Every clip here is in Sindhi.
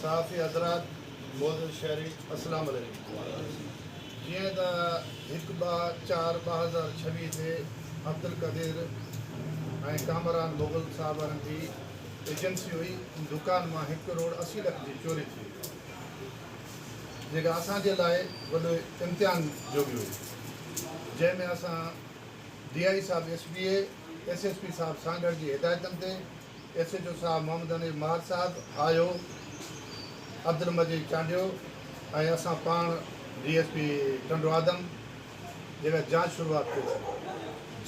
صحافي حضرات معزز شهري اسلام عليڪم جيئن ته هڪ ٻه چار ٻه هزار ڇويهه تي عبدالقدير ۽ ڪامران مغل صاحبان جي ايجنسي هئي ان دڪان مان هڪ ڪروڙ اسي لک جي چوري ٿي هئي جيڪا اسان جي لاء وڏو امتحان جوڳي هئي جنهن ۾ اسان ڊي آئي صاحب S B A S S P صاحب سانگهڙ جي هدايتن تي ايس ايڇ او صاحب محمد حنيف مار صاحب آيو عبدالمجيد چانڊيو ۽ اسان پاڻ ڊي ايس پي ٽنڊوآدم جيڪا جانچ شروعات ڪئي سي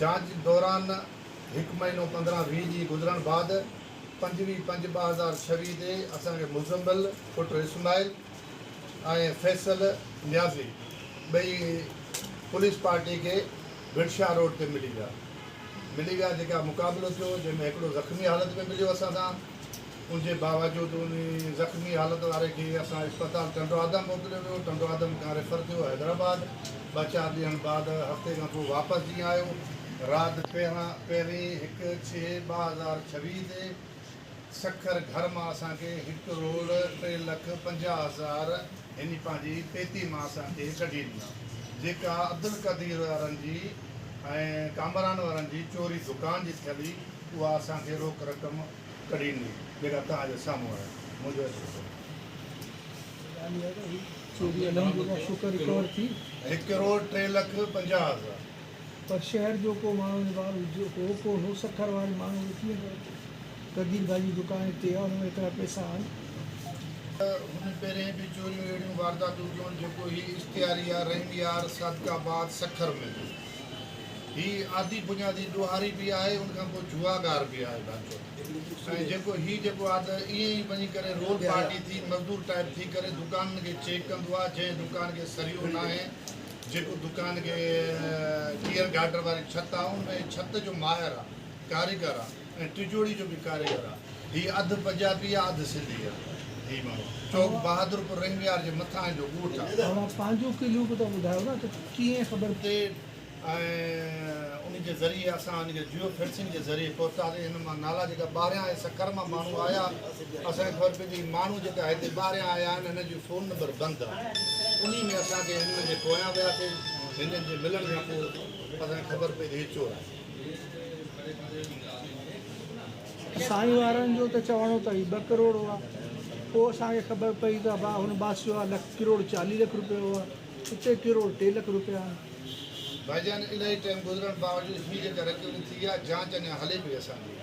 جانچ دوران هڪ مهينو پندرهن ويهه ڏينهن گذرڻ بعد پنجويهه پنج ٻه هزار ڇويهه تي اسان کي مزمل پٽ اسماعيل ۽ فيصل نيازي ٻئي پوليس پارٽي کي ڀٽشاهه روڊ تي ملي ويا. ملي ويا جيڪا مقابلو ٿيو جنهن ۾ هڪڙو زخمي حالت ۾ مليو اسان سان ان جي باوجود ان زخمي حالت واري کي اسان اسپتال ٽنڊو آدم موڪليو ويو ٽنڊو آدم کان ريفر ٿيو حيدرآباد ٻه چار ڏينهن بعد هفتي کان پوء واپس جيئن آيو رات پهرين هڪ ڇهه ٻه هزار ڇويهه تي سکر گهر مان اسان کي هڪ روڙ ٽي لک پنجاهه هزار يعني پنهنجي پيتي مان اسان کي ڪڍي ڏنا جيڪا عبدالقدير وارن جي ۽ ڪامران وارن جي چوري دڪان جي ٿيل هئي اها اسان کي روڪ رقم ڪڍي ڏني جيڪا توهان جي سامهون آهي منهنجو ايڊريس هڪ روڙ ٽي لک پنجاهه هزار. پر شهر جو ڪو ماڻهو هن ٻار هو ڪونه هو سکر واري ماڻهو کي ڪيئن خبر ته قدير گاهه جي دڪان هتي آهي ان ۾ ايترا پئسا آهن. ته هن پهرين به چوريون اهڙيون وارداتون ڪيون جيڪو هي اشتهاري آهي رحيم يار صادق آباد سکر ۾ هي آڌي بنيادي ڏوهاري به آهي ان کان پوء جوئاگار به آهي ڀانچو ۽ جيڪو هي جيڪو آهي ته ائين ئي وڃي ڪري رول پارٽي ٿي مزدور ٽائيپ ٿي ڪري دڪانن کي چيڪ ڪندو آهي جنهن دڪان کي سريو ناهي جيڪو دڪان کي ٽيئر گارڊر واري ڇت آ ان ۾ ڇت جو ماهر آ ڪاريگر آ ۽ ٽجوڙي جو به ڪاريگر آ هي اڌ پنجابي آ اڌ سنڌي آ هي ماڻهو چوڪ بهادرپور رنگ ويار جي مٿانهين جو ڳوٺ آ. اوهان پنهنجو ڪليو به ته ٻڌايو نه ته ڪيئن خبر. تي ۽ ان جي ذريعي اسان ان کي جيو فينسنگ جي ذريعي پهتاسين هن مان نالا جيڪا ٻاهريان ۽ سکر مان ماڻهو آيا. اسان کي خبر پيندي هي ماڻهو جيڪا هتي ٻاهريان آيا آهن هنن جو فون نمبر بند آهي انهي ۾ اسان کي هنن جي پويان وياسي هنن جي ملڻ کان پوء اسان کي خبر پئي ته هي چور آهن. سائين وارن جو ته چوڻو ته هي ٻه ڪروڙ هئا پوء اسان کي خبر پئي ته ابا هن باس جو آهي ڪروڙ چاليهه لک روپيا هئا اتي ڪروڙ ٽي لک روپيا آهن. ڀائيجان الائي ٽائيم گذرڻ باوجود هي جيڪا رڪوري ٿي آهي جانچ اڃان هلي پئي اسان جي.